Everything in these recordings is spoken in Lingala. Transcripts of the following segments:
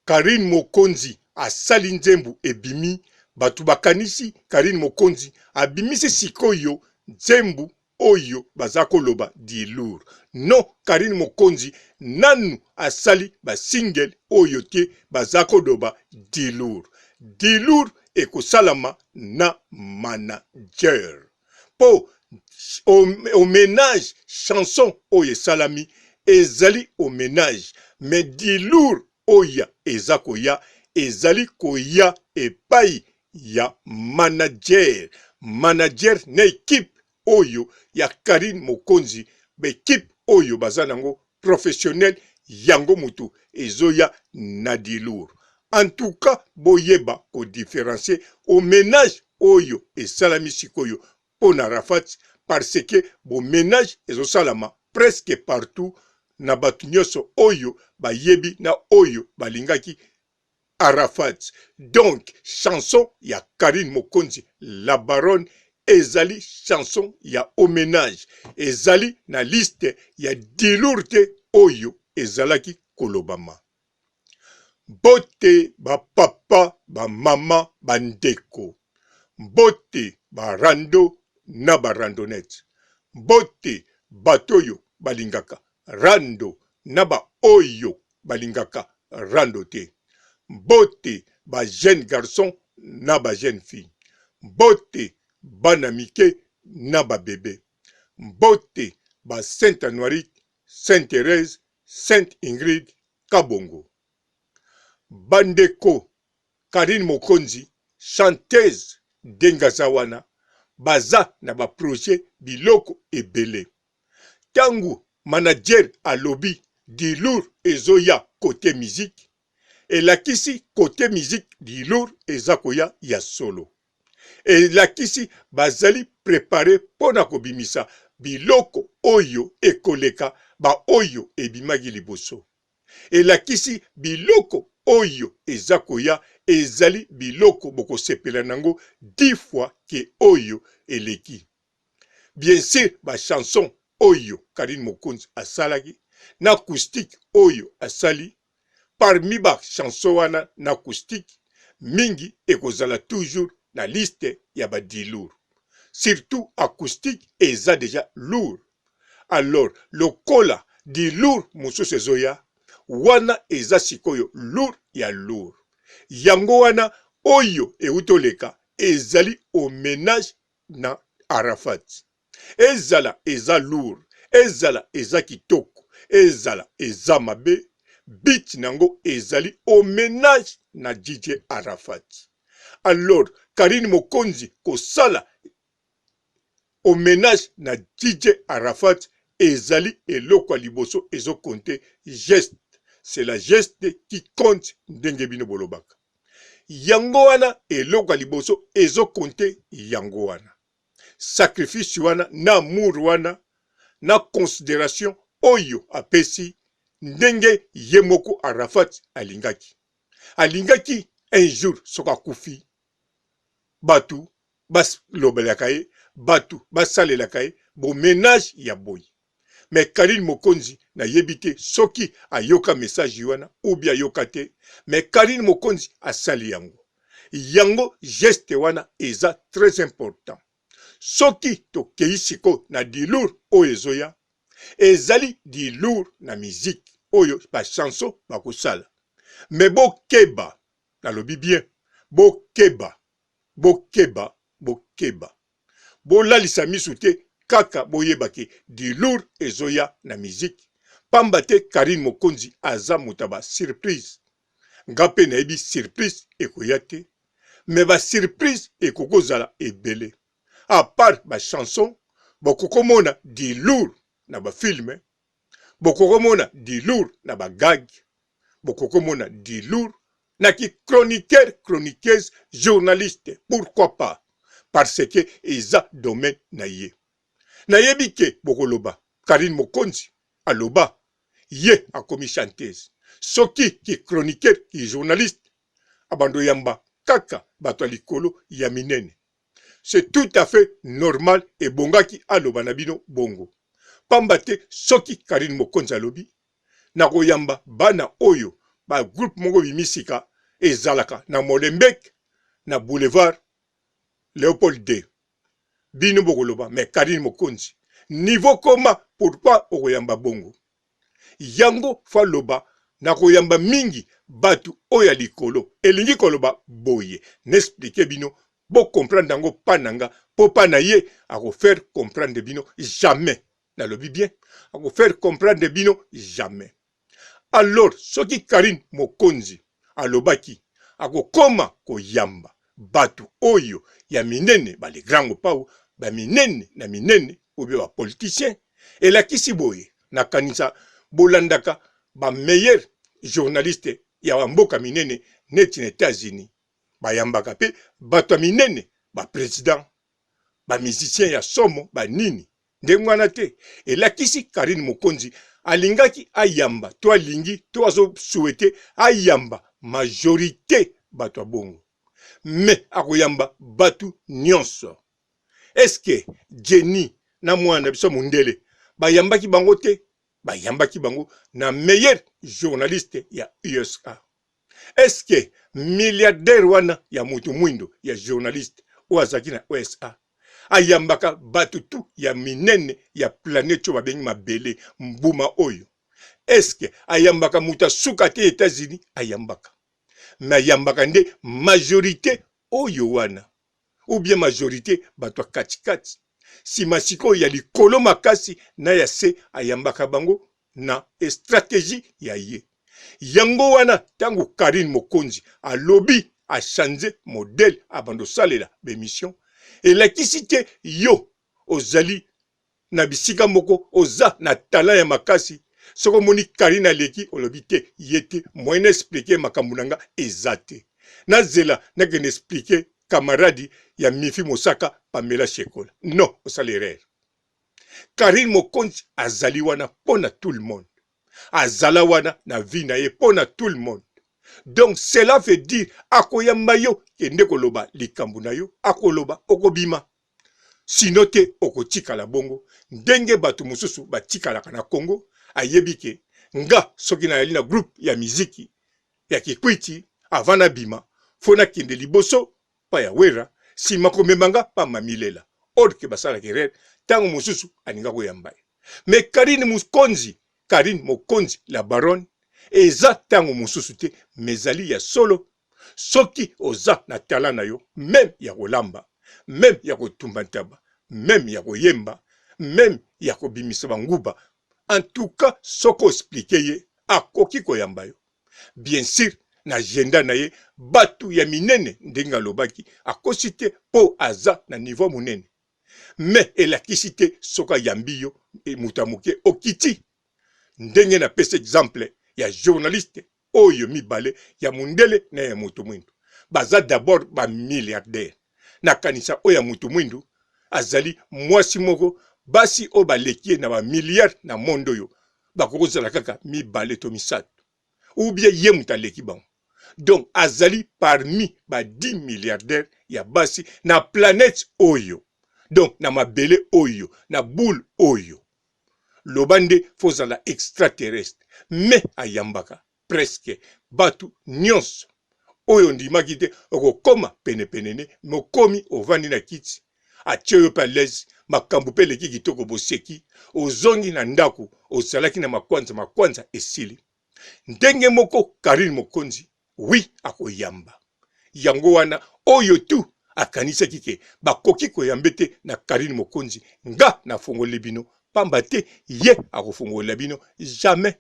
Carine mokonzi asali nzembu ebimi batu bakanisi Carine mokonzi abimisi sikoyo nzembu oyo baza koloba dilour non Carine mokonzi nanu asali ba single oyo te baza koloba dilour dilour ekosalama na managere. mpo homenage chanson oyo esalami ezali homenage me dilour oya eza koya ezali koya epai ya manager manager na equipe oyo ya carine mokonzi ba equipe oyo baza nango professionnel yango mutu ezoya na dilour en tout cas boyeba ko differencie au menage oyo esalami sikoyo pona rafat parce que bo menage ezosalama presque partout na batu nionso oyo bayebi na oyo balingaki Arafat donc chanson ya Carine Mokonzi la baronne ezali chanson ya homenage ezali na liste ya dilours te oyo ezalaki kolobama. Mbote ba papa, ba mama, ba ndeko. Mbote ba rando na ba randonnette. Mbote bato oyo balingaka Rando na ba oyo balingaka rando te mbote ba jeune garçon na ba jeune fille mbote bana mike na ba bebe mbote ba saint anuarit saint therese saint ingrid kabongo ba ndeko carine mokonzi chanteuse denge aza wana baza na ba projet biloko ebele. Tangu manager alobi du lourd ezoya cote musique, elakisi cote musique du lourd eza koya ya solo. Elakisi bazali preparer pona kobimisa biloko oyo ekoleka ba oyo ebimaki liboso. Elakisi biloko oyo eza koya ezali biloko bokosepela nango dix fois que oyo eleki. Bien sur ba chansons oyo Carine Mokonzi asalaki na acoustique oyo asali, parmi ba chansons wana na acoustique, mingi ekozala toujours na liste ya ba dilourd. Surtout acoustique eza dejà lourd. Alors lokola dilourd mosusu ezoya, wana eza sikoyo lourd ya lourd. Yango wana oyo ewuti oleka ezali au menage na Arafat ezala eza lourd ezala eza kitoko ezala eza mabe but nango ezali homenage na DJ Arafat alors Carine Mokonzi kosala homenage na DJ Arafat ezali eloko ya liboso ezo compte geste c'est la geste qui compte ndenge bino bolobaka yango wana eloko ya liboso ezo konte yango wana sacrifice wana na amour wana na consideration oyo apesi ndenge ye moko Arafat alingaki alingaki un jour soki akufi batu balobelaka ye batu basalelaka ye bo menage ya boye Mais Carine Mokonzi na yebi te soki ayoka message wana ou bien ayoka te mais Carine Mokonzi asali yango. Yango geste wana eza très important. Soki tokeyi sikoyo na du lourd oyo ezoya, ezali du lourd na musique oyo ba chansons bakosala. Mais bokeba, nalobi bien, bokeba, bokeba, bokeba. bolalisa misu te kaka boyeba ke dilour ezoya na musique pamba te Carine Mokonzi aza moto ya ba surprise nga pe nayebi surprise ekoya te mais ba surprise ekoki kozala ebele à part ba chanson bokokomona dilour na ba film bokokomona dilour na ba gag bokokomona dilour na ki chroniqueur chroniqueuse journaliste pourquoi pas parce que eza domaine na ye nayebi ke bokoloba Carine Mokonzi aloba ye akomi chanteuse soki ki chroniqueur ki journaliste abando yamba kaka bato ya likolo ya minene C'est tout à fait normal ebongaki aloba na bino bongo. Pamba te soki Carine Mokonzi alobi nakoyamba bana oyo ba groupe moko bimi sika ezalaka na Molenbeek na boulevard Leopold ii bino bokoloba mais Carine Mokonzi niveau koma pourquoi okoyamba bongo? Yango fa loba na koyamba mingi batu oyo ya likolo elingi koloba boye na explique bino bo comprendre yango pa na nga po pa na ye ako faire comprendre bino jamais na lobi bien ako faire comprendre bino jamais alors soki Carine mokonzi Alobaki, Akokoma koyamba bato oyo ya minene, ba le grand Mopao, ba minene na minene, ou bien ba politiciens. Elakisi boye, nakanisa bolandaka ba meilleurs journalistes ya ba mboka minene neti na Etats-Unis. Bayambaka pe bato ya minene, ba presidents, ba musiciens ya somo, ba nini. ndenge wana te elakisi Carine Mokonzi alingaki ayamba to alingi to azo souhaiter ayamba majorite bato ya bongo mais akoyamba bato nyonso est ce que Jenny na mwana na biso mundele bayambaki bango te bayambaki bango na meilleur journaliste ya USA eske milliardaire wana ya moto mwindo ya journaliste oyo azalaki na usa ayambaka bato tu ya minene ya planete oyo babengi mabele mbuma oyo eske ayambaka moto ya suka te etats-unis ayambaka me ayambaka nde majorité oyo wana ou bien majorite bato ya katikati, sima sikoyo ya likolo makasi na ya se ayambaka bango na estrategie ya ye. Yango wana tango Carine Mokonzi alobi a changer modèle abanda osalela b'emissions, elakisi te yo ozali na bisika moko oza na talent ya makasi soki omoni carine aleki olobi te ye te moyen na explique makambu na nga eza te na zela na kende explique camarade ya mifi mosaka pamela shekola non osali erreur carine mokonzi azali wana pona tout le monde azala wana na vie na ye pona tout le monde donc cela veut dire akoyamba yo kende koloba likambu na yo akoloba okobima Sinon te okotikala bongo ndenge batu mususu batikalaka na Congo ayebi ke nga soki nayali na groupe ya miziki ya kikwiti avant nabima faut nakende liboso pa ya werra sima komema nga pa mami lela or ke basalaka erreur tango mususu alinga koyamba ye mais Carine mukonzi Carine mokonzi la baronne eza tango mususu te mais ezali ya solo soki oza na tala na yo meme ya kolamba meme ya kotumba ntaba meme ya koyemba meme ya kobimisa banguba antuka soki osplike ye akoki koyamba yo biensir na agenda na ye batu ya minene ndenge alobaki akosi te po aza na nivo monene me elakisi te soki ayambi yo e, moto ya moke okiti ndenge na pesi exemple ya journaliste Oyo mibale ya mundele na ya mutu muindu baza d'abord ba milliardaires. Nakanisa oyo ya mutu muindu azali muasi moko basi oyo baleki ye na ba milliards na monde oyo bakoki kozala kaka mibale to misatu ou bien ye mutu aleki bango. Donc azali parmi ba dix milliardaires ya basi na planète oyo donc na mabele oyo na boule oyo. loba nde faut zala extraterrestre mais ayambaka presque batu nionso oyo ondimaki te okokoma penepenene mokomi ovandi na kiti atie yo pe à l'aise makambo pe eleki kitoko boseki ozongi na ndako ozalaki na makwanza makwanza esili Ndenge moko Carine Mokonzi oui akoyamba. Yango wana oyo tu akanisaki ke bakoki koyambe te na Carine Mokonzi nga na fongoli bino pamba te ye akofongolela bino jamais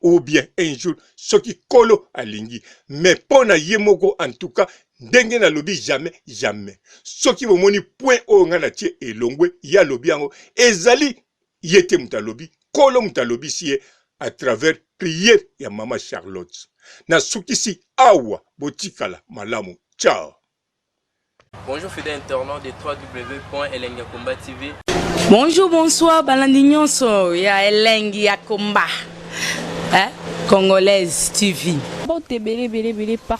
ou bien un jour soki kolo alingi mais mpo na ye moko en tout cas ndenge nalobi jamais jamais soki bomoni point oyo ngai natie elongwe ye alobi yango ezali ye te moto alobi kolo moto alobisi ye à travers prière ya mama Charlotte na sukisi awa botikala malamu ciao. Bonjour fidèle internaute de www.elengiakombativ. Bonjour, bonsoir, balandi nyonso ya elengi ya combat. Hein? Congolaise TV. Mbote ebele ebele ebele par